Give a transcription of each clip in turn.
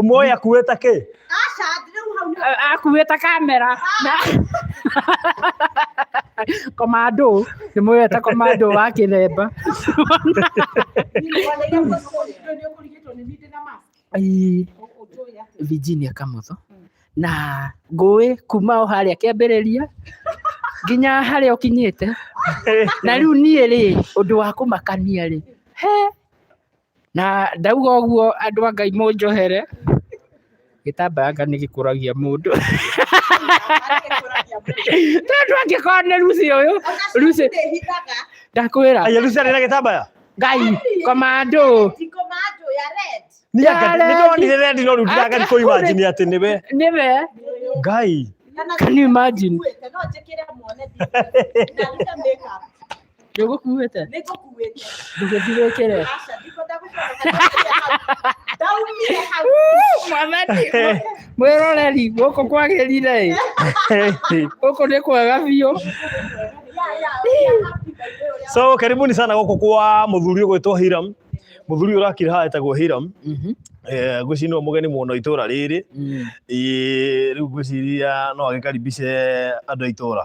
Ũmũĩ akuĩte kĩ? Aca, rĩu hau nĩ A- Akuĩte kamera. Na- Komando, ndĩmwĩrĩte komando wa kĩthemba. nĩwoneire mũndũ ũyũ nĩ nĩ ũkũrigĩtwo nĩ nindĩ na mask. Ii. Ũ- ũtũĩ atĩ. Virginia Kamotho na ngũĩ kuma o harĩa kĩambĩrĩria nginya harĩa ũkinyĩte na rĩu niĩ rĩ ũndũ wa kũmakania rĩ he Na ndauga ũguo andũ a Ngai mũnjohere, gĩtambaya anga nĩ gĩkũragia mũndũ. Tondũ angĩkorwo nĩ Lucy ũyũ, Lucy ndakwĩra Aya Lucy arĩ na gĩtambaya? Ngai komando. Nĩ Ya anga- nĩ rendi. ndonire rendi no rĩu ndiraga Aka- kũimagine atĩ nĩwe. Nĩwe. Ngai. Can you imagine? Ndũgũkuĩte? Nĩ ngũkuĩte. Ndũgĩthirĩkĩre. Aca, ndiko ndagũcoka. Ndaumire hau. Mwathani, mwĩroreri gũkũ kwagĩrire ĩ. Gũkũ nĩ kwega biũ. Ya, ya, ya, happy birthday ũrĩa so karibuni sana gũkũ kwa mũthuri ũgwĩtwo hiram mũthuri ũrakira haha etagwo hiram Mhm. Eh, ngwĩciria nĩwe mũgeni mũno itũra rĩrĩ Mm. Ĩĩ, rĩu ngwĩciria no agĩkaribishe andũ a itũra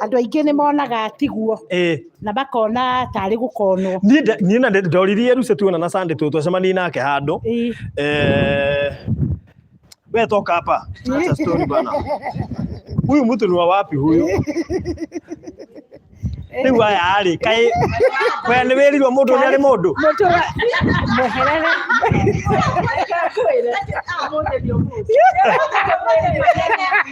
andå aingä nä monaga tiguo ĩĩ na makona tarä gå konwo niĩ nda- niĩ na ndĩ- ndoririe ruce tuona na sande tå twacemanie nake handå Ĩĩ. Eh, we toka hapa Acha story bana huyu mtu ni wa wapi huyu rĩu aya arĩ kaĩ we nĩ wĩrirwo mũndũ ũrĩa arĩ mũndũ må tå ra mweherere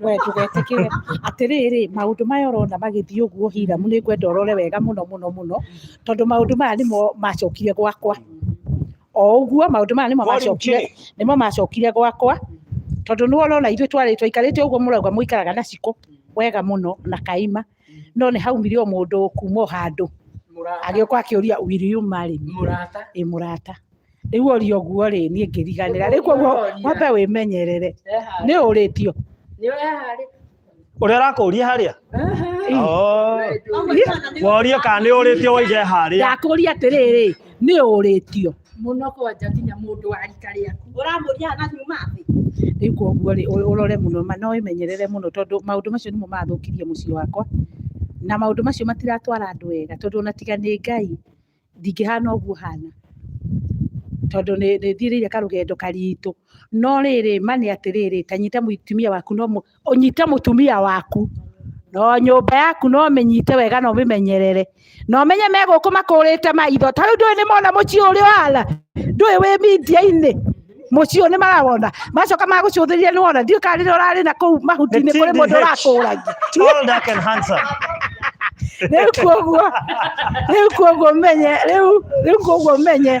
we ndũgetikire atiriri maundu maya urona magithii uguo hiramu ni ngwenda urore wega muno muno muno tondu maundu maya nimo macokire gwakwa o uguo maundu maya nimo macokire nimo macokire gwakwa tondu ni urona ithuĩ twarĩ twaikarĩte uguo murauga muikaraga na ciko wega muno na kaima no nĩ haumire o mũndũ kuma o handũ mũrata agĩũka akĩũria will you marry me mũrata ĩ mũrata rĩu orio ũguo rĩ niĩ ngĩriganĩra rĩu koguo Ũria. wambe wĩmenyerere eharĩ nĩ ũrĩtio nĩ eharĩ ũrĩa ũrakũria harĩa Oh. worie kana nĩ ũrĩtio waige harĩa ndakũria atĩrĩrĩ nĩ ũrĩtio mũno kwanja nginya mũndũ wa rika rĩaku ũramũria na nyuma thĩ rĩu koguo rĩ ũ- ũrore mũno ma- no ĩmenyerere mũno tondũ maũndũ macio nĩmo mathũkirie mũciĩ wakwa na maũndũ macio matiratwara andũ wega tondũ ona tiga nĩ ngai ndingĩhana ũguo hana tondũ nĩ nĩ thiĩrĩire karũgendo karitũ no rĩrĩ ma nĩ atĩrĩrĩ tanyita mũtumia waku no mũ- ũnyite mũtumia waku no nyũmba yaku no mĩnyite wega na ũmĩmenyerere na ũmenye me gũkũ makũrĩte maitho ta rĩu ndũĩ nĩ mona mũciĩ ũrĩa ũhana ndũĩ wĩ mindia-inĩ mũciĩ ũyũ nĩ marawona macoka magũcũthĩrĩria nĩ wona ndiũĩ kana rĩrĩa ũrarĩ na kũu mahuti-inĩ kũrĩ mũndũ ũrakũragia Tall, dark and handsome. rĩu koguo rĩu koguo menye rĩu rĩu koguo menye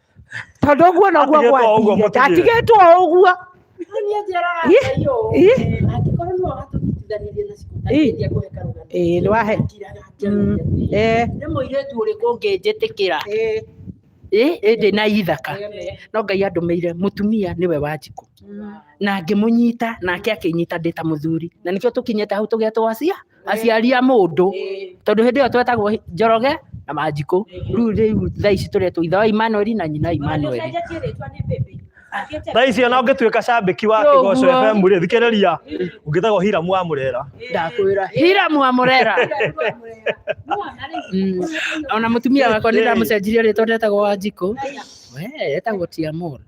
tondå å guo noguo Atigĩtwo o ũguo, mũtigĩre. ndatigätwo å guo Niĩ njeraga Ih, Ngai ũũ, ih. angĩkorwo nĩwe watũnyitithanirie na cukuru, Ih. nĩngĩendia kũhe karũgano. Ĩĩ, nĩwahe. Ndingĩraga Mm, njĩra. eh, nĩ mũirĩtu ũrĩkũ ũngĩnjĩtĩkĩra eh, Ĩ, ĩndĩ na ithaka eh, no ngai andũmĩire mũtumia nĩwe wa njikũ mm. na ngĩmũnyita nake akĩnyita ndĩ ta mũthuri na nĩkĩo tũkinyĩte hau tũgetwo acia aciari a mũndũ tondũ hĩndĩ ĩyo twetagwo njoroge na manjikũ rĩu rĩu thaa ici tũretwo ithe wa imanueli na nyina imanueli Ũcenjetie rĩtwa nĩ baby. Akĩte- thaa ici ona ũngĩtuĩka cambĩki wa Nĩ kĩgoco ũguo. fm rĩ thikĩrĩria ũngĩtagwo hiramu wa mũrera ndakwĩra hiramu wa mũrera Mwana rĩ, Mm. ona mũtumia wakwa nĩ ndamũcenjirie rĩtwa ndetagwo wa njikũ we etagwo tiamũra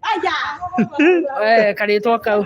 Aya. karĩtwa kau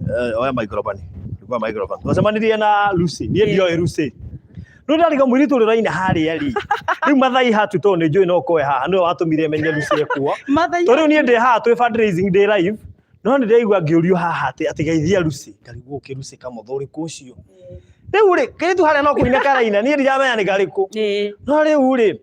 eh, oya microphone kwa microphone twacemanirie na Lucy niĩ Yeah. ndioĩ Lucy rĩu ndarĩ kamũirĩ tũrĩ raina harĩa rĩ rĩu mathai hatu tondũ nĩ njũĩ no koe haha nĩwe watũmire menye Lucy ekuo Matha tondũ niĩ ndĩ haha twĩ fundraising ndĩ live no nĩ ndaigua ngĩũrio haha atĩ atĩ geithia Lucy ngarigwo ũkĩ Lucy kamotho ũrĩkũ ũcio rĩu rĩ kĩrĩtu harĩa no kũina karaina niĩ ndiramenya nĩ karĩkũ no rĩu rĩ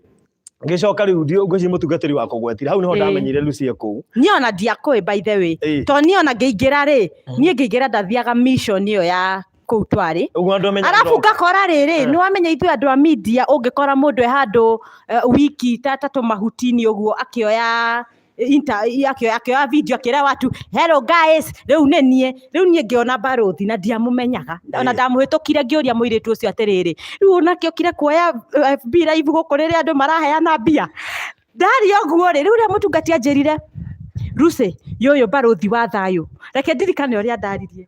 ngĩcoka rĩu ndiũ ngĩci mũtungatĩri wa kũgwetire hau nĩho Ĩĩ. ndamenyire Lucy kũu niĩ ona ndiakũĩ by the way Ĩĩ. to niĩ ona ngĩingĩra rĩ niĩ ngĩingĩra ndathiaga mission ĩyo ya kũu twarĩ ũguo andũ amenya arabu ngakora rĩrĩ nĩ wamenya ithuĩ andũ a media ũngĩkora mũndũ e handũ eh, wiki ta ta tũmahuti-inĩ ũguo akĩoya inter akĩoya akĩoya video akĩra watu hello guys rĩu nĩ niĩ rĩu niĩ ngĩona mbarũthi na ndiamũmenyaga ona Eh. ndamũhĩtũkire ngĩũria mũirĩtu ũcio atĩrĩrĩ rĩu onake ũkire kuoya eh, FB live gũkũ rĩrĩa andũ maraheana mbia ndarĩ ũguo rĩ rĩu rĩa mũtungati anjĩrire Lucy yũyũ mbarũthi wa thayũ reke ndirikane ũrĩa ndaririe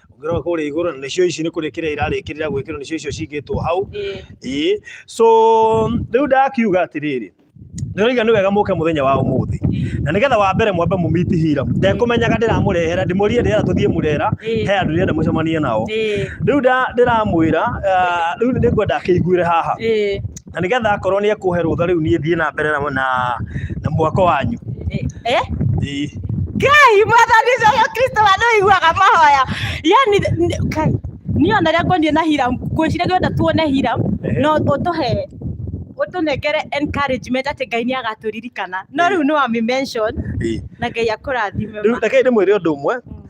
ũngĩrora kũrĩa igũrũ na nĩcio ici nĩ kũrĩkĩra irarĩkĩrĩra gwĩkĩrwo nĩcio icio cingĩtwo hau Ĩĩ. ĩĩ so rĩu ndakiuga atĩrĩrĩ ndĩroiga nĩ wega mũke mũthenya wa ũmũthĩ na nĩgetha wa mbere mwambe mũmiti hira ndekũmenyaga ndĩramũrehera ndĩmũrie ndĩrera tũthiĩ mũrera Ĩĩ. he andũ ndĩrenda mũcemanie nao Ĩĩ. rĩu nda- ndĩramwĩra ah, rĩu nĩngwenda akĩiguĩre haha Ĩĩ. na nigetha akorwo ni ekuhe rutha riu nie thie na mbere na na mwako wanyu eh eh kai mwathani uyu kristo wa ndu iguaga mahoya yani kai ni ona ria ngwendie na hiram ngwicire ngwenda tuone hiram no utuhe utunengere encouragement ati ngai ni agaturirikana no riu ni wa mention na ngai akurathime riu reke ndimwire undu umwe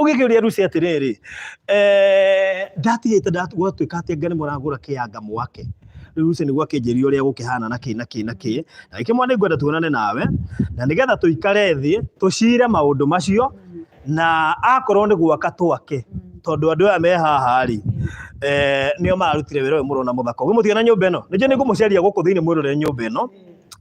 ũgĩkĩũria Lucy atĩrĩrĩ eh, ndatigĩte ndatuatuĩka atĩ Ngai nĩ mũragũra kĩanga mwake rĩu Lucy nĩguo akĩnjĩria ũrĩa gũkĩhana na kĩ na kĩ na kĩ na gĩkĩ mwana ngwenda tuonane nawe na nĩgetha tũikare thĩ tũcire maũndũ macio na akorwo nĩ gwaka twake tondũ andũ aya me haha rĩ eh, nĩo mararutire wĩra ũyũ mũrona mũthaka ũguo mũtiona nyũmba ĩno nĩnjũ nĩ ngũmũcaria gũkũ thĩinĩ mwĩrore nyũmba ĩno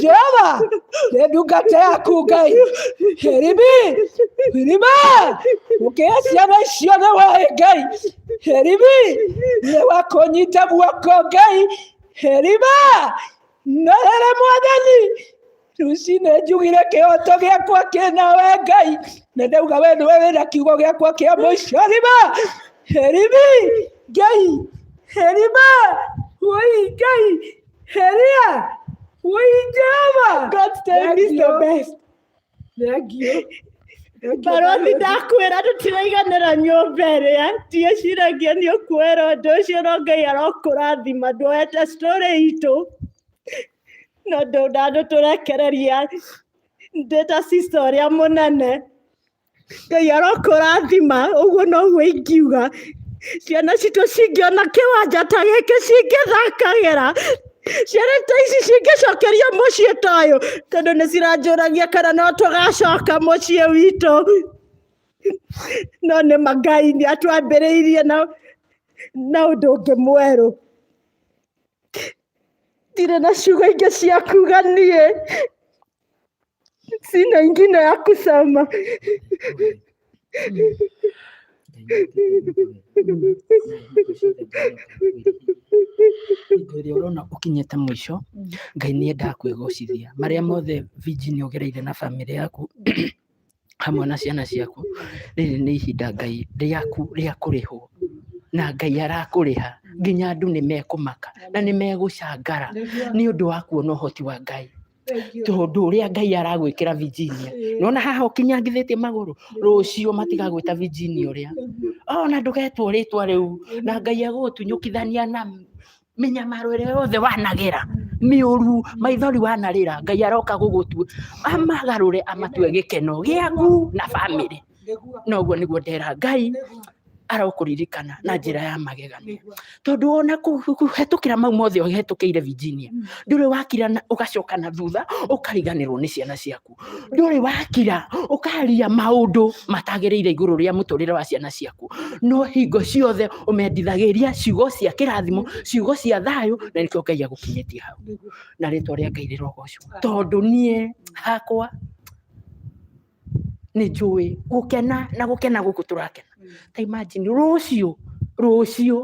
jehova reba ingata yakugaye herimi herima ukesi yabashiyo newahegayi herimi newakonyita buwakogayi herima norere mwathani rucine njugire kĩhoto gĩakwa kĩna we ngai na ndauga we nĩwe wĩna kiugo gĩakwa kĩa mũico rima herimi ngai herima woi ngai Heria! Wayijama! God tell me the best. Thank you. baroti ndakwĩra tũtiraiganĩra nyũmba ĩrĩa ndiĩciragia nĩ ũkwĩra ũndũ ũcio no ngai arokũrathima ndwoete story itũ no ndũnandũ tũrekereria ndĩta sister ũrĩa mũnene ngai arokũrathima ũguo noguo ingiuga ciana citũ cingĩona kĩwanja ta gĩkĩ cingĩthakagĩra ciana ta ici cingĩcokerio mũciĩ ta ũyũ tondũ nĩ ciranjũragia kana no tũgacoka mũciĩ witũ no nĩ mangai nĩ atwambĩrĩirie na na ũndũ ũngĩ mwerũ ndirĩ na ciugo ingĩ cia kuga niĩ Sina ingine ya kusema. hingo ĩrĩa ũrona ũkinyĩte mũico ngai nĩ endaga kwĩgocithia marĩa mothe viji nĩ ũgereire na bamĩrĩ yaku hamwe na ciana ciaku, rĩrĩ nĩ ihinda Ngai rĩaku rĩa kũrĩhwo, na Ngai arakũrĩha, nginya andũ nĩ mekũmaka, na nĩ megũcangara, nĩ ũndũ wa kuona ũhoti wa Ngai, tondũ ũrĩa Ngai aragwĩkĩra Virginia, nĩ wona haha ũkinyangithĩtie magũrũ, rũciũ matigagwĩta Virginia ũrĩa, ona ndũgetwo rĩtwa rĩu, na Ngai agũgũtunyũkithania na mĩnyamaro ĩrĩa yothe wanagera mĩũru maithori wanarĩra ngai aroka gũgũtua amagarũre amatue gĩkeno gĩaku na bamĩrĩ na ũguo nĩguo ndera ngai arokũririkana na njĩra ya magegania tondũ ona kũ- kũ- kũhetũkĩra mau mothe ũhetũkĩire virginia ndũrĩ wakira na- ũgacoka na thutha ũkariganĩrwo nĩ ciana ciaku ndũrĩ wakira ũkaria maũndũ matagĩrĩire igũrũ rĩa mũtũrĩre wa ciana ciaku no hingo ciothe ũmendithagĩria ciugo cia kĩrathimo ciugo cia thayũ na nĩkĩo ngai agũkinyĩtie hau na rĩtwa rĩa ngai rĩrogocwo tondũ niĩ hakwa nĩ njũĩ gũkena na gũkena gũkũ tũrakena ta imagine rũciũ rũciũ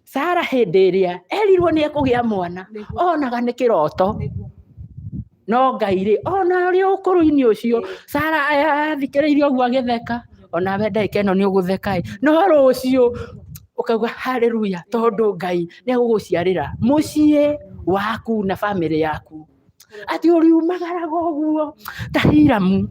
sara hĩndĩ ĩrĩa erirwo nĩ ekũgĩa mwana Nĩguo. onaga nĩ kĩroto Nĩguo. no ngai rĩ ona ũrĩ ũkũrũ-inĩ ũcio sara athikĩrĩirie ũguo agĩtheka ona we ndagĩka ĩno nĩ ũgũtheka ĩ no rũciũ ũkauga haleluya tondũ ngai nĩ egũgũciarĩra mũciĩ waku na bamĩrĩ yaku ati uriumagaraga uguo ta hiramu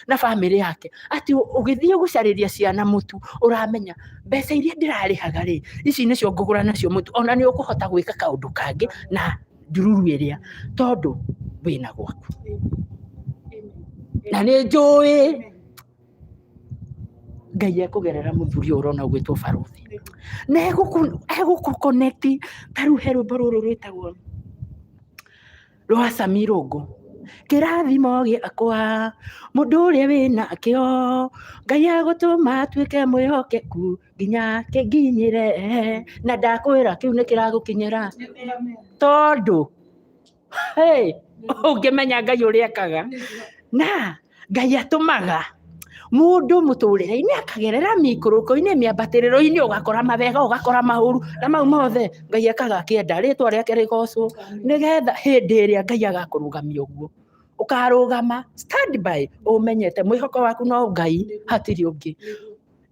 na bamĩrĩ yake ati ũgĩthiĩ gũcarĩria ciana mũtu ũramenya mbeca iria ndĩrarĩhaga rĩ ici nĩcio ngũgũra nacio mũtu ona nĩ ũkũhota gwĩka kaũndũ kangĩ na ndururu ĩrĩa tondũ wĩna gwaku na nĩ njũĩ Ngai ekũgerera mũthuri ũyũ ũrona ũgwĩtwo barũthi na egũkũ- egũkũkonekti ta rĩu he rwĩmbo rũrũ rwĩtagwo rwa Sami Rũngũ kĩrathimo gĩakwa mũndũ ũrĩa wĩna kĩo Ngai agũtũma atuĩke mwĩhokeku nginya kĩnginyĩre na ndakwĩra kĩu nĩ kĩragũkinyĩra tondũ Hey, ũngĩmenya ngai ũrĩa ekaga na ngai atũmaga mũndũ mũtũrĩre-inĩ akagerera mĩikũrũko-inĩ mĩambatĩrĩro-inĩ ũgakora mabega ũgakora maũru na mau mothe ngai ekaga akĩenda rĩtwa rĩake rĩgocwo nĩgetha hĩndĩ ĩrĩa ngai agakũrũgamia ũguo ũkarũgama stand by ũmenyete mwĩhoko waku no ngai hatirĩ ũngĩ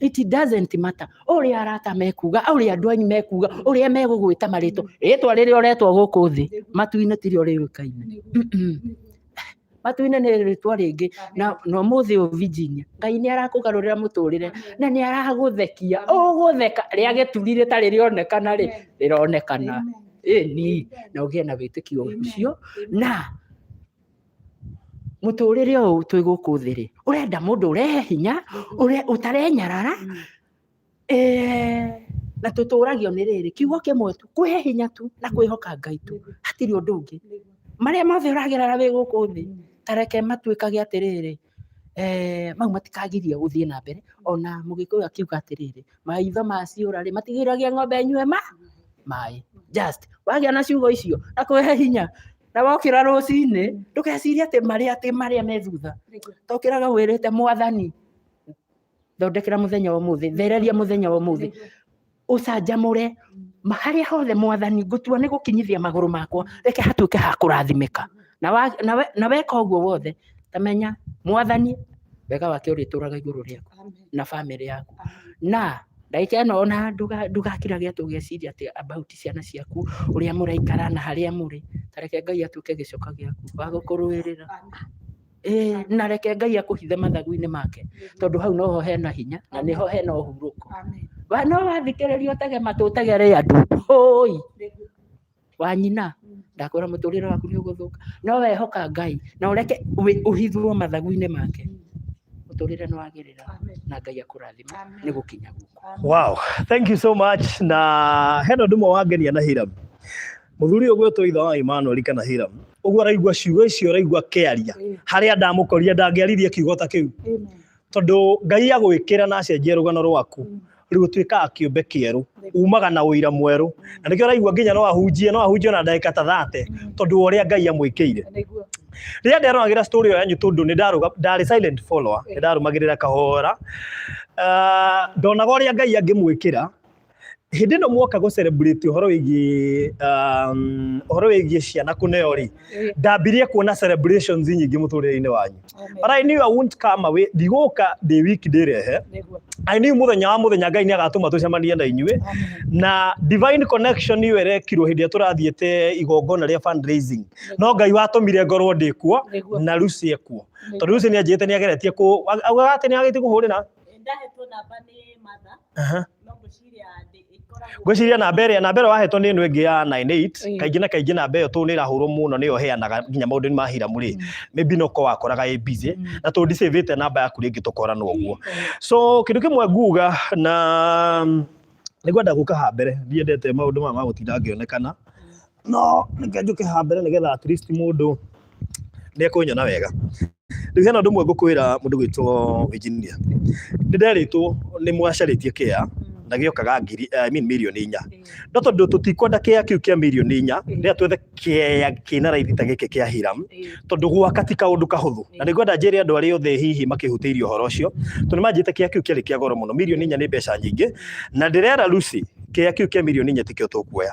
it doesn't matter ũrĩa arata mekuga ũrĩa andũ anyu mekuga ũrĩa megũgwĩta marĩtwa rĩtwa rĩrĩa ũretwa gũkũ thĩ matu-inĩ tirio rĩũĩkaine matu-inĩ nĩ rĩtwa rĩngĩ na na ũmũthĩ ũyũ Virginia ngai nĩ arakũgarũrĩra mũtũrĩre na nĩ aragũthekia ũgũtheka rĩa gĩturi rĩtarĩ rĩonekana rĩ rĩronekana ĩni na ũgĩe na wĩtĩkio ũcio na mũtũrĩre ũyũ twĩ gũkũ thĩ rĩ ũrenda mũndũ ũrehe hinya ũre- ũtarenyarara Eh, na tũtũragio nĩ rĩrĩ kiugo kĩmwe tu kwĩhe hinya tu na kwĩhoka ngai tu hatirĩ ũndũ ũngĩ marĩa mothe ũragerera wĩ gũkũ thĩ tareke matuĩkage atĩrĩrĩ eh, mau matikagirie gũthiĩ na mbere ona mũgĩkũyũ akiuga atĩrĩrĩ maitho maciũra rĩ matigĩragia ng'ombe nyue ma maĩ just wagĩa na ciugo icio na kwĩhe hinya na wokĩra rũcinĩ ndũgecirie atĩ marĩa atĩ marĩa me thutha tokĩraga wĩrĩte mwathani thondekera muthenya wa muthi thereria muthenya wa muthi ucanjamure haria hothe mwathani ngutua ni gukinyithia maguru makwa reke hatuike ha kurathimika na wa- na we- na weka uguo wothe tamenya mwathani wega wake urituraga iguru riaku Amen. na family yaku na ndagika ĩno ona nduga- ndugakira gĩa tũgeciria atĩ about ciana ciaku ũrĩa mũraikara na harĩa mũrĩ tareke ngai atuĩke gĩcoka gĩaku wa gũkũrũĩrĩra Amen. Eh, na reke ngai akũhithe mathagu-inĩ make tondũ hau noho hena hinya na nĩho hena ũhurũko Amen. Wa- no wathikĩrĩria ũtege matũ ũtegere andũ hoi wanyina ndakwĩra mũtũrĩre waku nĩ ũgũthũka no wehoka ngai na ũreke wĩ- ũhithwo mathagu-inĩ make mũtũrĩre nĩ wagĩrĩra Amen. na ngai akũrathima Amen. nĩ gũkinya guku Wow, thank you so much. Na hena ndumwe wangenia na Hiram. Mũthuri ũyũ gwĩtwo ithe wa Imanueli kana Hiramu, ũguo araigua ciugo icio araigua akĩaria, harĩa ndamũkorire ndangĩaririe kiugo ta kĩu, tondũ Ngai agwĩkĩra na acenjia rũgano rwaku rĩu ũtuĩkaga kĩũmbe kĩerũ, umaga na ũira mwerũ, na nĩkĩo ũraigua nginya no ahunjie no ahunjie na ndagĩka ta thate, tondũ wa ũrĩa Ngai amwĩkĩire. Rĩrĩa nderoragĩra story ĩyo yanyu tondũ nĩ ndarũga- ndarĩ silent follower, nĩ ndarũmagĩrĩra kahora, ah, ndonaga ũrĩa Ngai angĩmwĩkĩra hĩndĩ ĩno mwoka gå celebrate ũhoro wĩgiĩ um, ũhoro wĩgiĩ ciana kũneo rĩ Eh, ndambirie kuona celebrations nyingĩ mũtũrĩre-inĩ wanyu amen. but I knew I won't come away ndigũka ndĩ wiki ndĩrehe Nĩguo. I knew mũthenya wa mũthenya Ngai nĩ agatũma tũcemanie na inyuĩ Amen. na divine connection nĩyo ĩrekirwo hĩndĩ ĩrĩa tũrathiĩte igongona rĩa fundraising no Ngai watũmire ngorwo ndĩ kuo Nĩguo. na Lucy ekuo tondũ Lucy nĩ anjĩte nĩ ageretie kũ augaga atĩ nĩ agĩtie kũhũrĩra ndahetwo namba nĩ matha Aha. no ngwĩciria ndĩ- ĩkoragwo ngwĩciria namba ĩrĩa namba ĩrĩa wahetwo nĩ ĩno ĩngĩ ya 98 Ĩĩ. kaingĩ na kaingĩ namba ĩyo tondũ nĩ ĩrahũrwo mũno nĩyo ĩheanaga nginya maũndũ-inĩ ma hiramu rĩ Mm. maybe no ko wakoraga ĩ busy Mm. na tondũ ndicĩvĩte namba yaku rĩngĩ tũkorana ũguo so kĩndũ kĩmwe nguga na nĩngwenda gũka ha mbere ndiendete maũndũ maya ma gũtinda ngĩonekana no reke njũke haha mbere nĩgetha at least mũndũ nĩ ekũnyona wega rĩu hena ũndũ ũmwe ngũkwĩra mũndũ gwĩtwo engineer nĩ nderĩtwo nĩ mwacarĩtie kĩa na gĩokaga ngiri I mean mirioni inya no tondũ tũtikwenda kĩa kĩu kĩa mirioni inya rĩrĩa twethe kĩa kĩna raithi ta gĩkĩ kĩa hiram tondũ gwaka ti kaũndũ kahũthũ na nĩ ngwenda njĩre andũ arĩa othe hihi makĩhutĩirie ũhoro ũcio tondũ manjĩte kĩa kĩu kĩarĩ kĩa goro mũno mirioni inya nĩ mbeca nyingĩ na ndĩrera Lucy kĩa kĩu kĩa mirioni inya tikĩo tũkuoya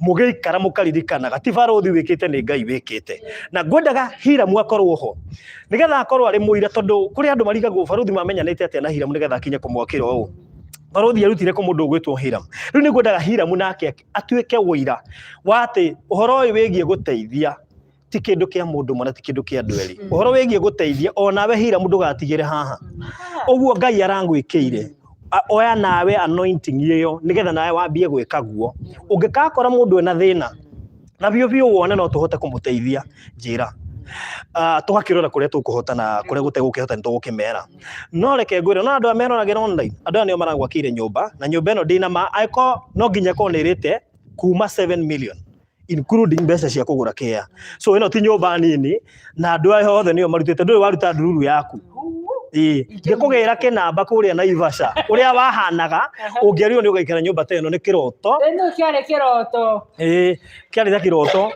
mũgĩikara mũkaririkanaga ti barũthi wĩkĩte nĩ ngai wĩkĩte na ngwendaga hiramu akorwo ho nĩgetha akorwo arĩ mũira tondũ kũrĩ andũ marigagwo barũthi mamenyanĩte atĩa na hiramu nĩgetha akinye kũmwakĩra ũũ barũthi arutire kũ mũndũ ũgwĩtwo hiramu rĩu nĩ ngwendaga hiramu nake atuĩke ũira wa atĩ ũhoro ũyũ wĩgiĩ gũteithia ti kĩndũ kĩa mũndũ mwana ti kĩndũ kĩa andũ erĩ Mm. ũhoro wĩgiĩ gũteithia onawe hira mũndũ gatigĩre haha ũguo ngai arangwĩkĩire A- oya nawe anointing ĩyo nĩgetha nawe wambie gwĩka guo ũngĩkakora mũndũ ena thĩna na biũ biũ wone no tũhote kũmũteithia njĩra Ah, tũgakĩrora kũrĩa tũkũhota na kũrĩa gũtegũkĩhota nĩ tũgũkĩmera no reke ngwĩre no andũ aya meroragĩra online andũ aya nĩo maragwakĩire nyũmba na nyũmba ĩno ndĩna ma angĩkorwo no nginya ĩkorwo nĩ ĩrĩte kuma 7 million including mbeca cia kũgũra kea so ĩno ti nyũmba nini na andũ aya othe nĩo marutĩte ndũĩ waruta ndururu yaku Ĩĩ, ngĩkũgĩra kĩnamba kũrĩa naivasha ũrĩa wahanaga ũngĩarirwo nĩ ũgaikara nyũmba ta ĩno nĩ kĩroto Ĩno kĩarĩ kĩroto Ĩĩ, kĩarĩ ta kĩroto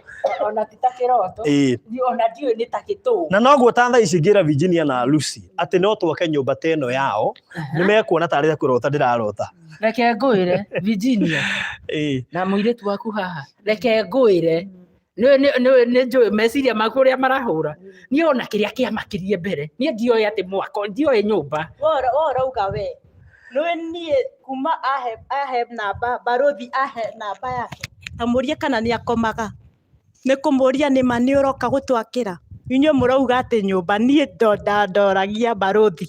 ona ti ta kĩroto Ĩĩ. Ni- ona ndiũĩ nĩ ta gĩtũũ na noguo ta thaa ici ngĩra Virginia na Lucy atĩ no twake nyũmba ta ĩno yao nĩ mekuona tarĩ ta kũrota ndĩrarota reke ngwĩre virginia Eh, na mũirĩtu waku haha reke ngwĩre nĩ- nĩ- nĩ- nĩ njũĩ meciria maku ũrĩa marahũra niĩ ona kĩrĩa kĩamakirie mbere niĩ ndioĩ atĩ mwako ndioĩ nyũmba Wora- worauga we nĩwe niĩ kuma ahe ahe namba barothi ahe namba yake amũrie kana nĩ akomaga nĩ kũmũria nĩ ma nĩ ũroka gũtwakĩra inyuĩ mũrauga atĩ nyũmba niĩ ndo- nda- ndoragia barothi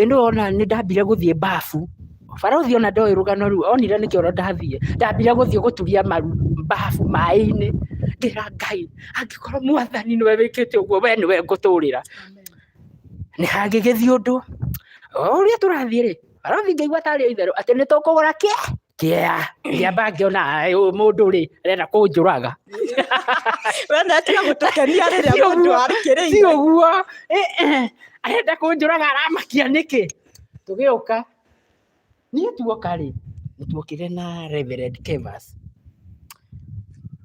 ĩndĩ ona nĩ ndambire gũthiĩ mbabu barũthi ona ndoĩ rũgano rũu onire nĩ kĩoro ndathiĩ ndambire gũthiĩ gũturia maru mbabu maĩ-inĩ ngĩra ngai angĩkorwo mwathani nĩwe wĩkĩte ũguo we nĩwe ngũtũrĩra nĩ hangĩgĩthiĩ ũndũ o ũrĩa tũrathiĩ rĩ barũthi ngĩigua tarĩ o itherũ atĩ nĩ tũkũgũra kĩ Yeah, ndiamba ngiona "Ai, ũyũ mũndũ rĩ arenda kũnjũraga wenda atiga gũtũkenia rĩrĩa Ti mũndũ ũguo, ti arĩkĩrĩire ũguo Eh, eh, arenda kũnjũraga aramakia nĩkĩ tũgĩũka niĩ tuoka rĩ nĩtuokire na Reverend Kevas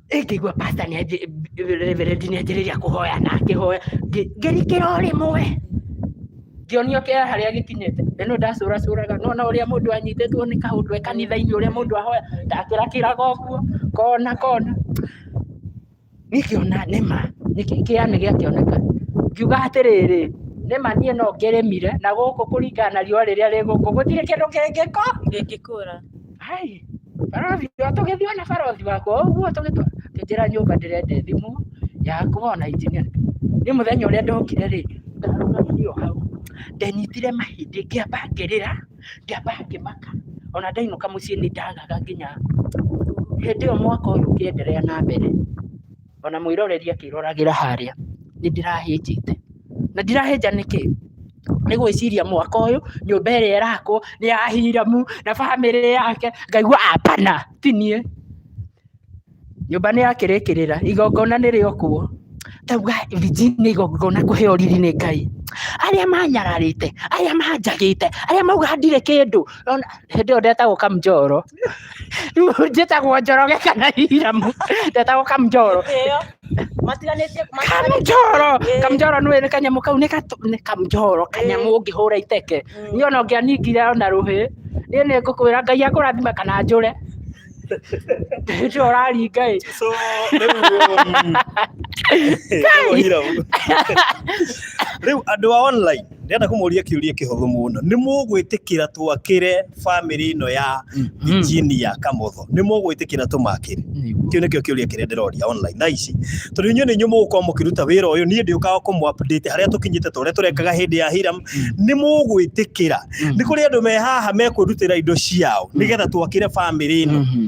ngĩigua pasta nĩ reverend nĩ anjĩrĩria kũhoya na akĩhoya ngĩ- ngĩrikĩra o rĩmwe ngĩonio kĩa harĩa gĩkinyĩte na no ndacũracũraga no na ũrĩa mũndũ anyitĩtwo nĩ kaũndũ e kanitha-inĩ ũrĩa mũndũ ahoya ndakĩrakĩraga ũguo kona kona nĩkĩona nĩma nĩkĩ- kĩanĩ gĩakĩoneka ngiuga atĩrĩrĩ nĩma niĩ no ngĩrĩmire na gũkũ kũringana na riũa rĩrĩa rĩgũkũ gũtirĩ kĩndũ kĩngĩko Ndĩngĩkũra. ai barothi ũyũ tũgĩthiĩ na barothi wakwa ũguo tũgĩtwa kĩnjĩra nyũmba ndĩrende thimũ yakwa na injinia nĩ mũthenya ũrĩa ndokire rĩ ndarũgamire o hau ndanyitire mahĩndĩ ngĩamba ngĩrĩra ngĩamba ngĩmaka ona ndainũka mũciĩ nĩ ndagaga nginya hĩndĩ ĩyo mwaka ũyũ ũkĩenderea na mbere ona mwĩroreri akĩroragĩra harĩa nĩ ndĩrahĩnjĩte. Na ndirahĩnja nĩkĩ? Nĩ gwĩciria mwaka ũyũ nyũmba ĩrĩa ĩrakwo nĩ ya Hiramu na bamĩrĩ yake, ngaigua apana ti niĩ. Nyũmba nĩ yakĩrĩkĩrĩra, igongona nĩ rĩa o kuo. Ngauga Virginia igongona kũheo riri nĩ Ngai. Arĩa manyararĩte, arĩa manjagĩte, arĩa mauga ndirĩ kĩndũ. Nona hĩndĩ ĩyo ndetagwo kamjoro rĩu njĩtagwo njoroge kana iramu ndetagwo kamjoro ĩyo matiganĩtie kamjoro Ĩĩ. kamjoro nĩ nĩ kanyamũ kau nĩ gatũ- nĩ kamjoro kanyamũ ũngĩhũra iteke Mm. niĩ ona ũngĩaningire ona rũhĩ niĩ nĩ ngũkwĩra ngai akũrathima kana njũre hĩndĩ ĩyo ũraringa ĩ so rĩu mm, ĩtagwo irabu. rĩu andũ a online ndĩrenda kũmũria kĩũria kĩhũthũ mũno nĩ mũgwĩtĩkĩra twakĩre bamĩrĩ ĩno ya Mm. injinia kamotho nĩ mũgwĩtĩkĩra tũmakĩre Nĩguo. kĩu nĩkĩo kĩũria kĩrĩa ndĩroria online thaa ici tondũ inyuĩ nĩ inyuĩ mũgũkorwo mũkĩruta wĩra ũyũ niĩ ndĩũkaga kũmũ update harĩa tũkinyĩte ta ũrĩa tũrekaga hĩndĩ ya hiram nĩ mũgwĩtĩkĩra Mm. nĩ kũrĩ andũ me haha mekwĩrutĩra indo ciao nĩgetha twakĩre bamĩrĩ ĩno Mhm.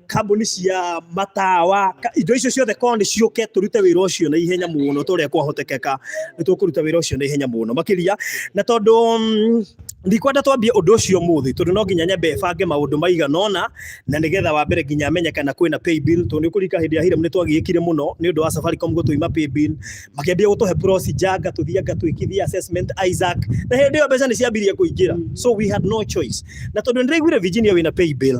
kambuni cia matawa ka- indo icio ciothe korwo nĩ ciũke tũrute wĩra ũcio na ihenya mũno ta ũrĩa kwahotekeka nĩ tũkũruta wĩra ũcio na ihenya mũno makĩria na tondũ mm, ndikwenda twambie ũndũ ũcio mũthĩ tondũ no nginya nyambe bange maũndũ maigana ũna na nĩgetha wa mbere nginya menye kana kwĩna pay bill tondũ nĩ kũrika hĩndĩ ya Hiram nĩ twagĩĩkire mũno nĩ ũndũ wa Safaricom gũtũima pay bill makĩambia gũtũhe procedure ngatũthiĩ ngatwĩkithia assessment Isaac na hĩndĩ ĩyo mbeca nĩ ciambirie kũingĩra so we had no choice na tondũ nĩ ndaiguire Virginia wĩna pay bill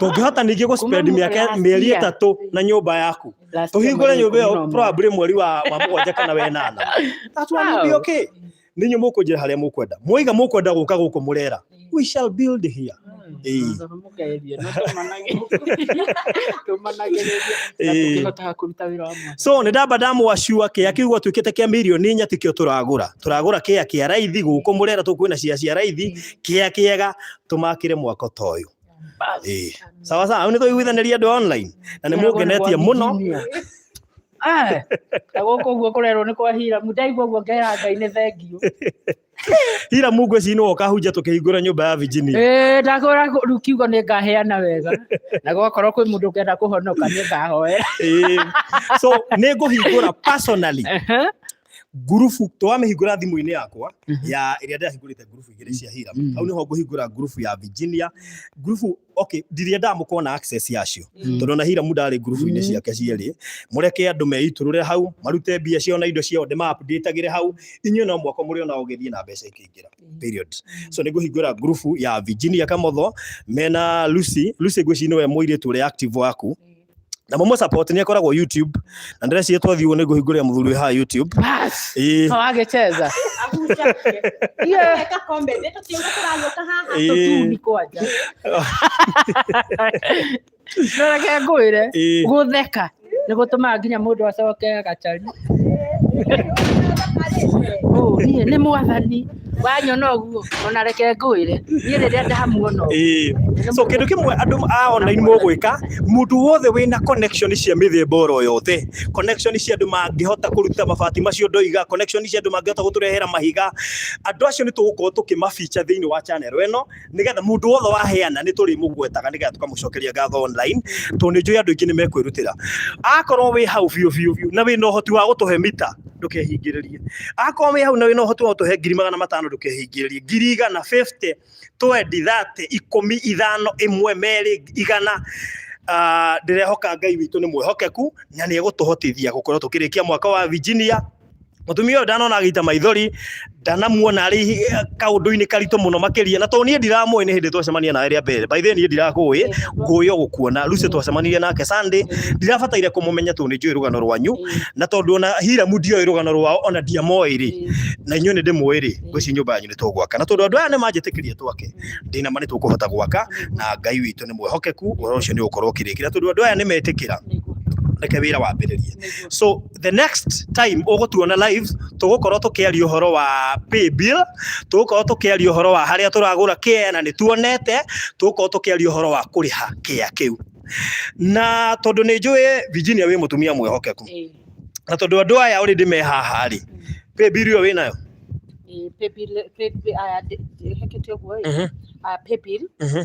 tũngĩhota ningĩ gũspend Kuma mĩaka last mĩeri year. ĩtatũ na nyũmba yaku Last year tũhingũre mweri nyũmba ikũmi na ĩyo ũmwe. probably mweri wa wa mũgwanja kana wenana that's one will be Wow. okay ninyi mũkũnjĩra harĩa mũkwenda mwaiga mũkwenda gũka gũkũ mũrera we shall build here Ĩĩ. Mũkageria, no tũmanage- tũmanagĩrĩrie na Ĩĩ. tũkĩhotaga kũruta wĩra wa mwana. so nä ndamba ndamwa cua kä a kä u gwatuä kä te kä a milioni inya tä kä o tå ragå ra tå ragå ra kä a kä a raithi gå kå må rera tå kwä na cia cia raithi kä a kä ega tũmakĩre mwako ta ũyũ Ĩĩ. sawa sawa rĩu nĩ tũiguithanĩria andũ online na nĩ mũngenetie mũno gũkũ ũguo kũrerwo nĩ kwa hiramu ndaigua ũguo ngera ngai nĩ thengiũ hira mungu eci nĩ woka hunja tũkĩhingũra nyũmba ya virginia Ĩĩ, ndakũra rĩu kiugo nĩ ngaheana wega na gwakorwo kwĩ mũndũ ũkenda kũhonoka nĩ ngahoera Ĩĩ. so nĩ ngũhingũra personally ngurubu to wamĩhingũra thimũ-inĩ yakwa Mhm. ya ĩrĩa ndĩrahingũrĩte ngurubu igĩrĩ cia hiram Mhm. hau nĩho ngũhingũra ngurubu ya virginia ngurubu okay ndiria ndamũkorwo na access yacio Mm. tondũ na hiram ndarĩ ngurubu-inĩ Mhm. ciake cierĩ mũreke andũ meitũrũre hau marute mbia ciao na indo ciao ndĩmaapndĩtagĩre hau inyuĩ no mwako mũrĩ ona ũgĩthiĩ na mbeca ikĩingĩra period so nĩ ngũhingũra ngurubu ya virginia kamotho mena lucy lucy ngwĩci nĩwe mũirĩtu ũrĩa active waku na må må support nä akoragwo youtube na ndäreciria twathiä nä ngå hingå rä a må thuri haha youtube Bas. Ĩĩ. No agecheza. Yeah. Eka comment, ĩta tiuga tũragĩũka haha. Ĩĩ. Tũtuni kwanja. Ndoreke ngwĩre Ĩĩ. gũtheka nĩ gũtũmaga nginya mũndũ acoke agacari. Ũũ, niĩ nĩ mwathani. wanyona ũguo ona reke ngwĩre niĩ rĩrĩa ndamuona ũguo Ĩĩ. so kindu kimwe andu a online mugwika mundu wothe wina connection cia mithemba oro yothe connection cia andu mangihota kuruta mabati macio ndoiga connection cia andu mangihota guturehera mahiga andu acio ni tugukorwo tukimafeature thiini wa channel eno nigetha mundu wothe waheana ni turi mugwetaga nigetha tukamucokeria ngatho online to ni njui andu ingi ni mekwirutira akorwo wi hau biu biu biu na wi no hoti wa gutuhe mita ndukehingiririe akorwo wi hau na wi no hoti wa gutuhe ngiri magana matano ndukehingiririe ngiri igana 50 twendi 30 ikumi ithano imwe meri igana Ah, ndirehoka ngai witå nä mwehokeku na nä egå tå hotithia gå korwo tå kä rä kia mwaka wa Virginia mutumia uyu ndanona agita maithori ndanamuona ari kaundu-ini karitu muno makiria na to nie ndiramui ni hindi twacemania nawe ria mbere by the way nie ndirakui nguyo gukuona Lucy twacemanirie nake Sunday ndirabataire kumumenya tu ni njui rugano rwanyu na tondu ona Hiramu ndioĩ rugano rwao ona ndiamoĩ rĩ na inyuĩ nĩ ndĩmũĩ rĩ ngwĩci nyũmba yanyu nĩ tũgwaka na tondũ andũ aya nĩ manjĩtĩkĩria twake ndĩna ma nĩ tũkũhota gwaka na Ngai witũ nĩ mwĩhokeku ũhoro ũcio nĩ ũgũkorwo ũkĩrĩkĩra tondũ andũ aya nĩ metĩkĩra reke wĩra wambĩrĩrie so the next time ũgũtuona live tũgũkorwo tũkĩaria ũhoro wa pay bill tũgũkorwo tũkĩaria ũhoro wa harĩa tũragũra kĩa na nĩtuonete tũgũkorwo tũkĩaria ũhoro wa kũrĩha kĩa kĩu na tondũ nĩ njũĩ Virginia wĩ mũtumia mwĩhokeku Eh, na tondũ andũ aya already me haha rĩ pay bill ĩyo wĩ nayo eh, pay bill- pay bill- aya, ndĩ- ndĩhekete ũguo ĩ. Mhm, Aya, pay bill, mhm.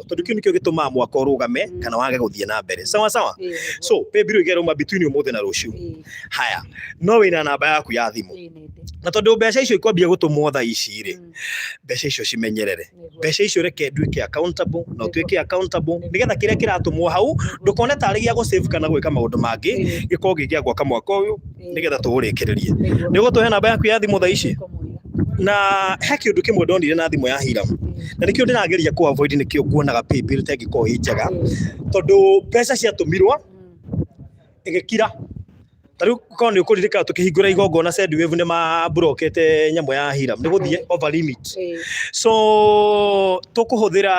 tondu kiu nikio gitumaa mwaka urugame Mm. kana wage guthie na mbere sawa sawa Ĩĩ, nĩguo. so pay bill igeruma between umuthi na ruciu Ĩĩ, haya no wina namba yaku ya thimu ĩĩ, nĩ ndĩ. na tondu mbeca icio ikwambia gutumwo tha ici ri Mm, mbeca icio cimenyerere nĩguo. mbeca icio reke nduĩke accountable na ũtuĩke accountable nĩgetha kĩrĩa kĩratũmwo hau ndũkone tarĩ gĩa gũsave kana gwĩka maũndũ mangĩ Ĩĩ, gĩkorwo gĩ gĩa gwaka mwaka ũyũ nigetha tũũrĩkĩrĩrie nĩ ũgũtũhe namba yaku ya thimũ thaa ici na he kĩndũ kĩmwe ndonire na thimũ ya hiramu na nĩkĩo ndĩrageria kũ avoid nĩkĩo nguonaga paybill ta ĩngĩkorwo ĩ njega tondũ mbeca ciatũmirwo ĩgĩkira ta rĩu korwo nĩ ũkũririkana tũkĩhingũra igongona Sendwave nĩ maburokete nyamũ ya hiram nĩ gũthiĩ over limit so tũkũhũthĩra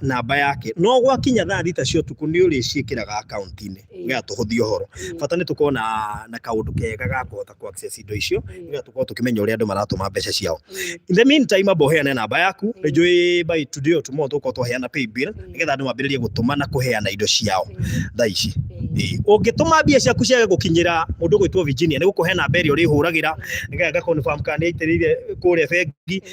namba yake no gwakinya thaa thita cia ũtukũ nĩ ũrĩciĩkĩraga akaunti-inĩ nĩgetha tũhũthie ũhoro bata nĩ tũkorwo na na kaũndũ kega ga kũhota ku access indo icio nĩgetha tũkorwo tũkĩmenya ũrĩa andũ maratũma mbeca ciao in the meantime amba ũheane namba yaku nĩ njũĩ by today or tomorrow tũgũkorwo twaheana pay bill nĩgetha andũ mambĩrĩrie gũtũma na kũheana indo ciao thaa ici Ĩĩ. ũngĩtũma mbia ciaku ciage gũkinyĩra mũndũ ũgwĩtwo Virginia nĩ gũkũhe namba ĩrĩa ũrĩhũragĩra nĩgetha ngakonfirm kana nĩ aitĩrĩire kũrĩa bengi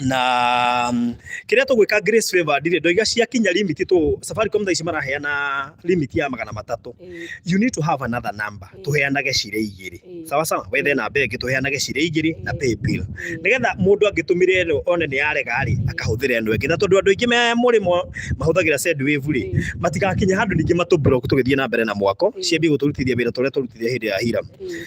na mm, kiria tugwika grace favor ndire ndoiga ciakinya limit tu safaricom thaa ici maraheana limit ya magana matatu Eh, you need to have another number Mm. tuheanage cire igiri eh, sawa sawa wethe namba ĩngĩ tuheanage cire igiri na Mm. pay bill eh, nigetha mundu angĩtũmire ĩno one nĩ yarega rĩ Mm. akahũthĩra ĩno ĩngĩ na tondũ andũ aingĩ me mũrĩmo mahũthagĩra sendwave rĩ eh, matigakinya handũ ningĩ matũ block tũgĩthiĩ na mbere na mwako Mm. ciambie gũtũrutithia wĩra tũrĩa tũrutithia hĩndĩ ya hira eh.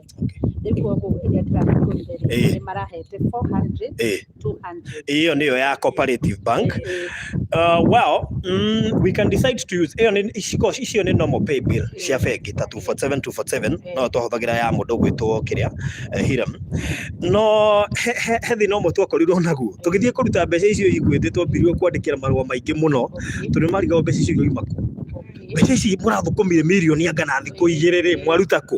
hiyo niyo ya cooperative bank uh, well mm, we can decide to use iyo ni iciko icio ni normal pay bill cia bengi ta 247 247 no twahũthagĩra ya mũndũ gwĩtwo kĩrĩa eh, hiram no he- he he thĩna ũmwe twakorirwo naguo tũgĩthiĩ kũruta mbeca icio igwĩthĩ twambirirwo kwandĩkĩra marũa maingĩ mũno tondũ nĩ marigagwo mbeca icio igoima kũ mbeca ici mũrathũkũmire mirioni angana thikũ igĩrĩ rĩ mwaruta kũ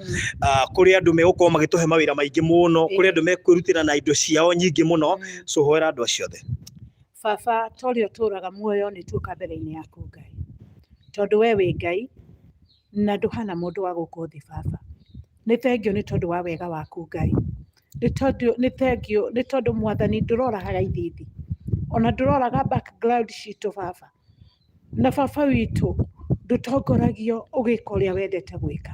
ah, kũrĩ andũ megũkorwo magĩtũhe mawĩra maingĩ mũno kũrĩ andũ mekwĩrutĩra na indo ciao nyingĩ mũno so hoera andũ acio othe baba ta ũrĩa ũtũũraga muoyo nĩ tuoka mbere-inĩ yaku ngai tondũ we wĩ ngai na ndũhana mũndũ wa gũkũ thĩ baba nĩ thengio nĩ tondũ wa wega waku ngai nĩ tondũ nĩ thengio nĩ tondũ mwathani ndũroraga ithithi ona ndũroraga background citũ baba Na baba witũ ndũtongoragio ũgĩka ũrĩa wendete gwĩka.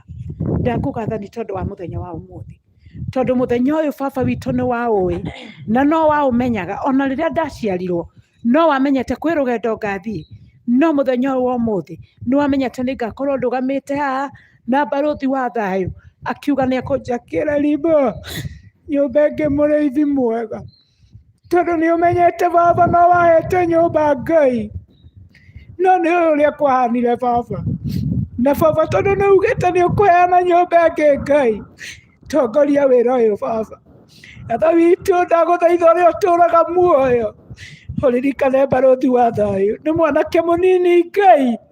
Ndakũgatha nĩ tondũ wa mũthenya wa ũmũthĩ. Tondũ mũthenya ũyũ baba witũ nĩ wa ũĩ na no wa ũmenyaga ona rĩrĩa ndaciarirwo no wamenyete kwĩ rũgendo ngathiĩ no mũthenya ũyũ wa ũmũthĩ nĩ wamenyete nĩ ngakorwo ndũgamĩte haha na mbarũthi wa thayũ akiuga nĩ ekũnjakĩra ribũ nyũmbe ngĩ mũrĩithi mwega. tondũ nĩ ũmenyete baba no wahete nyũmba ngai no nĩ ũyũ ũrĩa kwahanire baba na baba tondũ nĩ ugĩte nĩ ũkũheana nyũmba ĩngĩ ngai tongoria wĩra ũyũ baba atha witũ ndagũthaitha ũrĩa ũtũraga muoyo ũririkane mbarũthi wa thayũ nĩ mwanake mũnini ngai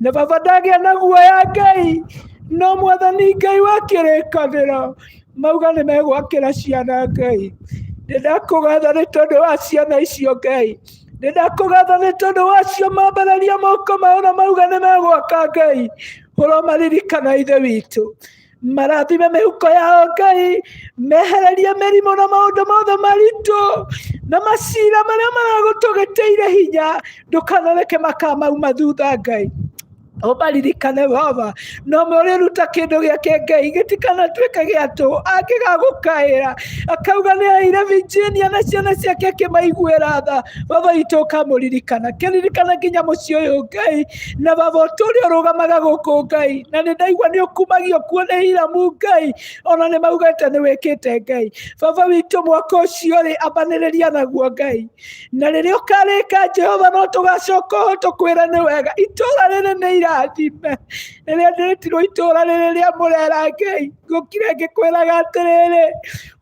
na baba ndagĩa na guoya ngai no mwathani ngai wa kĩrĩkanĩro mauga nĩ megwakĩra ciana ngai nĩ ndakũgatha nĩ tondũ wa ciana icio ngai nĩ ndakũgatha nĩ tondũ wacio mambararia moko mao na mauga nĩ megwaka ngai ũromaririkana ithe witũ marathime mĩhuko yao ngai mehererie mĩrimũ na maũndũ mothe maritũ na macira marĩa maragũtũgĩtĩire hinya ndũkanareke makamauma thutha ngai ũmaririkane baba no mũrĩruta kĩndũ gĩake ngai gĩtikanatuĩke gĩa tũ angĩgagũkaĩra akauga nĩ aire virginia na ciana ciake akĩmaiguĩra tha baba itũ ũkamũririkana kĩririkana nginya mũciĩ ũyũ ngai na baba ũtũ ũrĩa ũrũgamaga gũkũ ngai na nĩ ndaigua nĩ ũkumagio kuo nĩ hiramu ngai ona nĩ maugĩte nĩ wĩkĩte ngai baba witũ mwaka ũcio rĩ ambanĩrĩria naguo ngai na rĩrĩa ũkarĩka jehova no tũgacoka ho tũkwĩre nĩ wega itũra rĩrĩ nĩ irathime rĩrĩa ndĩrĩtirwo itũra rĩrĩ rĩa mũrera ngai ngũkire ngĩkwĩraga atĩrĩrĩ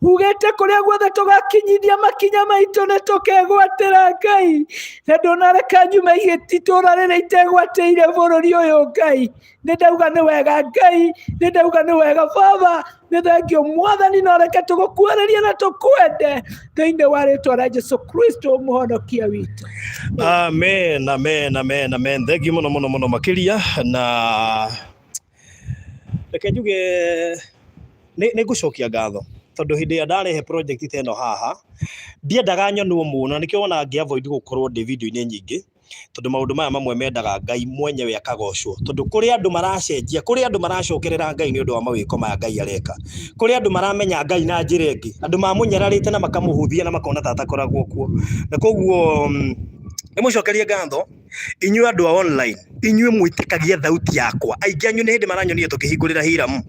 hugĩte kũrĩa guothe tũgakinyithia makinya maitũ nĩ tũkegwatĩra ngai na ndũnareka nyume itũra rĩrĩa itegwatĩire bũrũri ũyũ ngai nĩ ndauga nĩ wega ngai nĩ ndauga nĩ wega baba nĩ thengio mwathani na reke tũgũkuhĩrĩrie na tũkwende thĩinĩ wa rĩtwa rĩa jesu kristo mũhonokia witũ amen amen amen amen thengi muno muno muno makiria na Reke njuge nĩ ngũcokia ngatho tondũ hĩndĩ ĩrĩa ndarehe project ta ĩno haha ndiendaga nyonwo mũno na nĩkĩo wonaga ngĩ avoid gũkorwo ndĩ video-inĩ nyingĩ tondũ maũndũ maya mamwe mendaga Ngai mwenyewe akagocwo tondũ kũrĩ andũ maracenjia kũrĩ andũ maracokerera Ngai nĩ ũndũ wa mawĩko maya Ngai areka kũrĩ andũ maramenya Ngai na njĩra ĩngĩ andũ mamũnyararĩte na makamũhũthia na makona ta atakoragwo kuo na koguo nĩ mũcokerie ngatho. inyuĩ andå a online inyuĩ mwĩtĩkagia thauti yakwa aingĩ anyu nä hä ndä maranyonire tå kä hingå rä ra hiramu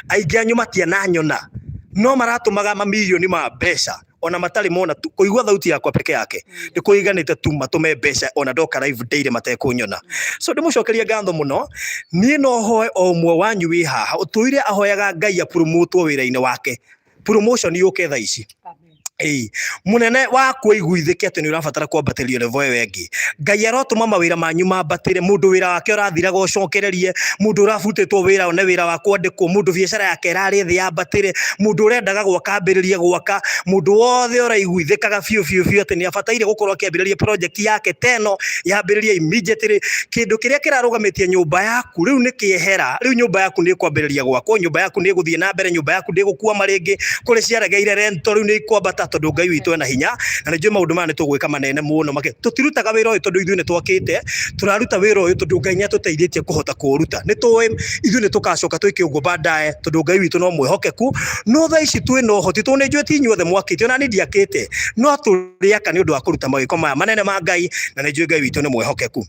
aingä anyu matiananyona no maratũmaga mamirioni ma mbeca ona matarĩ mona tu kũigua thauti yakwa peke yake nĩ kũiganĩte tu matũme mbeca ona ndoka live daily matekũnyona so ndĩmũcokerie ngatho mũno niĩ no hoe o ũmwe wanyu wĩ haha ũtũire ahoyaga ngai apurumutwo wĩra-inĩ wake promotion yũke tha ici Ĩĩ, mũnene wa kũiguithĩke atĩ nĩ ũrabatara kwambatĩrio level ĩyo ĩngĩ ngai arotũma mawĩra manyu mambatĩre mũndũ wĩra wake ũrathiraga ũcokererie mũndũ ũrabutĩtwo wĩra one wĩra wa kwandĩkwo mũndũ biacara yake ĩrarĩ thĩ yambatĩre mũndũ ũrendaga gwaka ambĩrĩrie gwaka mũndũ wothe ũraiguithĩkaga biũ biũ biũ atĩ nĩ abataire gũkorwo akĩambĩrĩria project yake teno yambĩrĩrie immediately kĩndũ kĩrĩa kĩrarũgamĩtie nyũmba yaku rĩu nĩ kĩehera rĩu nyũmba yaku nĩ ĩkwambĩrĩria gwakwo nyũmba yaku nĩ ĩgũthiĩ na mbere nyũmba yaku ndigukua maringi kuri ciaregeire rento riu ni ikwambata tondu ngai witũ ena hinya na nĩ njũĩ maũndũ maya nĩ tũgwĩka manene mũno makĩ tũtirutaga wĩra ũyũ tondũ ithuĩ nĩ twakĩte tũraruta wĩra ũyũ tondũ ngai nĩ atũteithĩtie kũhota kũũruta nĩ tũĩ ithuĩ nĩ tũgacoka twĩke ũguo baadaye tondũ ngai witũ no mwĩhokeku no thaa ici twĩ na ũhoti tondũ nĩ njũĩ ti inyuothe mwakĩte ona niĩ ndiakĩte no tũrĩ aka nĩ ũndũ wa kũruta mawĩko maya manene ma ngai na nĩ njũĩ ngai witũ nĩ mwĩhokeku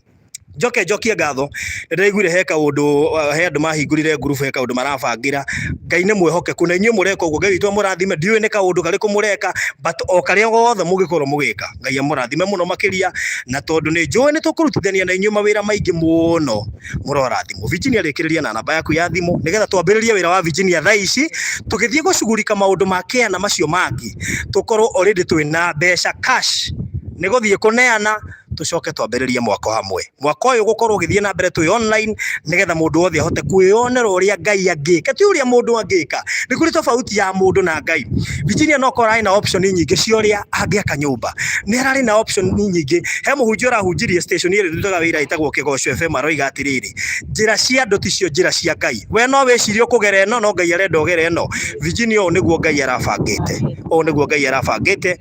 njoke njokie ngatho ndĩraiguire he kaũndũ uh, he andũ mahingũrire ngurubu he kaũndũ marabangĩra ngai nĩ mwĩhokeku na inyuĩ mũreka ũguo ngai witũ amũrathime ndiũĩ nĩ kaũndũ karĩkũ mũreka but o karĩa gothe mũngĩkorwo mũgĩka ngai amũrathime mũno makĩria na tondũ nĩ njũĩ nĩ tũkũrutithania na inyuĩ mawĩra maingĩ mũno mũrorathimwo Virginia rĩkĩrĩria na namba yaku ya thimũ nĩgetha twambĩrĩrie wĩra wa Virginia thaa ici tũgĩthiĩ gũcugurika maũndũ ma kĩana macio mangĩ tũkorwo already twĩ na mbeca cash nä gå thiä kå neana tucoke twambiririe mwako hamwe mwako uyu gukorwo githie na mbere tu online nigetha mundu wothe ahote kwiyonera uria ngai angika ti uria mundu angika ni kuri tofauti ya mundu na ngai Virginia no korai na option nyingi cia uria angiaka nyumba ni arari na option nyingi he muhunjia urahunjirie station iri ndutaga wira itagwo kigoco fm aroiga atiriri njira cia andu ticio njira cia ngai we no wicirie kugera eno no ngai arenda ugera eno Virginia uyu niguo ngai arabangite uyu niguo ngai arabangite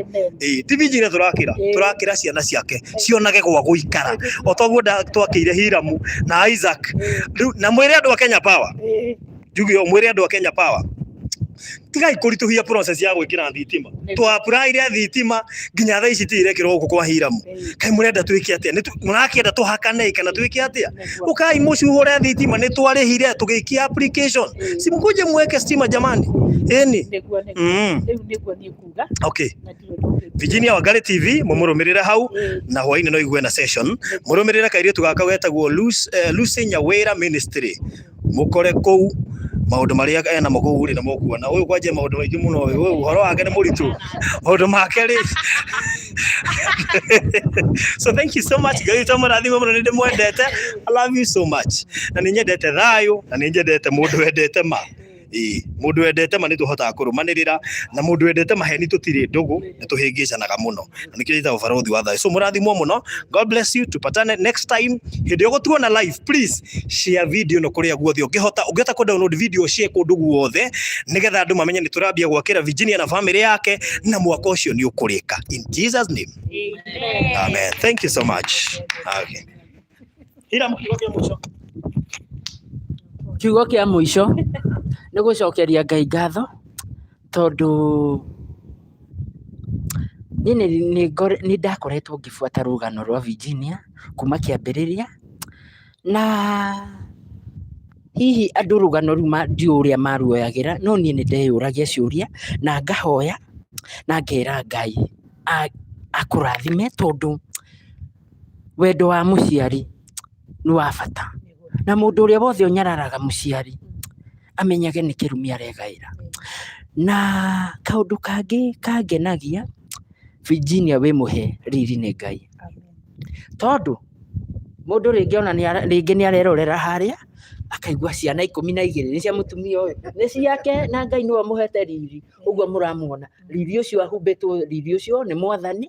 Amen. Eh, ti minji ĩrĩa tũrakĩra Eh. tũrakĩra ciana ciake cionage gwa gũikara o toguo nda- twakĩire hiramu na isaac Rĩu- na mwĩre andũ a kenya power Eh, njuge ũũ, mwĩre andũ a kenya power tigai kũritũhia process ya gwĩkĩra thitima Nĩ- twapuraire thitima nginya thaa ici tiirekĩrwo gũkũ kwa hiramu eh, kai mũrenda twĩke atĩa Nĩ tu- mũrakĩenda tũhakane kana twĩke atĩa nĩguo. ukai mũcuhũre thitima nĩ twarĩhire tũgĩikia application Eh. simkuje mweke stima jamani ĩni Nĩguo, nĩguo. mm. Rĩu nĩguo niĩ kuga okay na ndirĩ ndũkĩte. Virginia Wangari TV mumurumĩrĩre hau Ĩĩ, na hwainĩ no igue na session murumĩrĩre kairĩtu gaka wetagwo Lucy eh, Lucy Nyawĩra Ministry mukore kũu maũndũ marĩa ena mo kũu rĩ na mũkuona ũyũ kwanja maũndũ maingĩ mũno ũyũ ũyũ ũhoro wake nĩ mũritũ maũndũ make rĩ so thank you so much ngai tũmũrathime mũno nĩ ndĩmwendete i love you so much na nĩ nyendete thayũ na nĩ nyendete mũndũ wendete ma Ĩĩ, mũndũ wendete ma nĩ tũhotaga kũrũmanĩrĩra na mũndũ wendete maheni tũtirĩ ndũgũ nĩ tũhĩngĩcanaga mũno na nĩkĩo njĩtaga ũbarũthi wa thayũ so mũrathimwo mũno god bless you tupatane next time hĩndĩ ĩyo gũtuona live please share video ĩno kũrĩa guothe ũngĩhota ũngĩhota kũ download video share kũndũ guothe nĩgetha andũ mamenye nĩ tũrambia gwakĩra Virginia na family yake na mwaka ũcio nĩ ũkũrĩka in Jesus name amen thank you so much okay. Hiramu kiugo kĩa mũico. kiugo kĩa mũico nĩ gũcokeria ngai ngatho tondũ niĩ nĩ- nĩ ngore- nĩ ndakoretwo ngĩbuata rũgano rwa virginia kuma kĩambĩrĩria na hihi andũ rũgano rũu ma- ndiũ ũrĩa maruoyagĩra no niĩ nĩ ndeyũragia ciũria na ngahoya na ngera ngai a- akũrathime tondũ wendo wa mũciari nĩ wa bata na mũndũ ũrĩa wothe ũnyararaga mũciari amenyage nĩ kĩrumi aregaĩra na kaũndũ kangĩ kangenagia Virginia wĩ mũhe riri nĩ Ngai tondũ mũndũ rĩngĩ ona nĩ ara- rĩngĩ nĩ arerorera harĩa akaigua ciana ikũmi na igĩrĩ nĩ cia mũtumia ũyũ nĩ ciake na Ngai nĩwe ũmũhete riri ũguo mũramuona riri ũcio ahumbĩtwo riri ũcio nĩ mwathani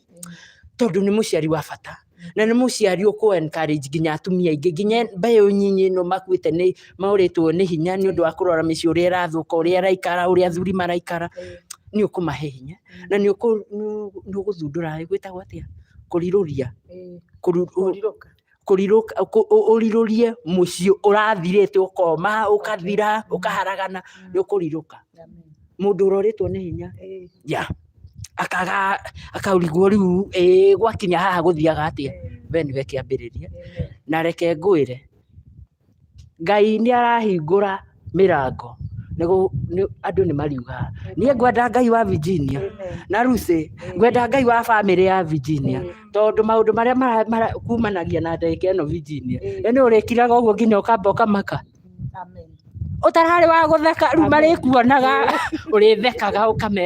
tondũ nĩ mũciari wa bata na nĩ mũciari ũkũ encourage nginya atumia aingĩ nginya mbeũ nyinyi ĩno makuĩte nĩ maũrĩtwo nĩ hinya nĩ ũndũ wa kũrora mĩciĩ ũrĩa ĩrathũka ũrĩa ĩraikara ũrĩa athuri maraikara nĩ ũkũmahe hinya na nĩ ũkũ- nĩ- nĩ ũgũthundũra gwĩtagwo atĩa kũrirũria kũru- kũrirũka kũrirũka kũ- ũ- ũrirũrie mũciĩ ũrathirĩte ũkoma ũkathira ũkaharagana nĩ ũkũrirũka mũndũ ũrorĩtwo nĩ hinya ya akaga akaurigwo rĩu ĩĩ gwakinya haha gũthiaga atĩa we nĩwe kĩambĩrĩria na reke ngwĩre Ngai nĩ arahingũra mĩrango andũ nĩ mariugaga niĩ ngwenda Ngai wa Virginia na Lucy ngwenda Ngai wa bamĩrĩ ya Virginia tondũ maũndũ marĩa kumanagia na ndagĩka ĩno Virginia we nĩ ũrĩkiraga ũguo nginya ũkamba ũkamaka ũtararĩ wa gũtheka rĩu marĩkuonaga ũrĩthekaga ũkame.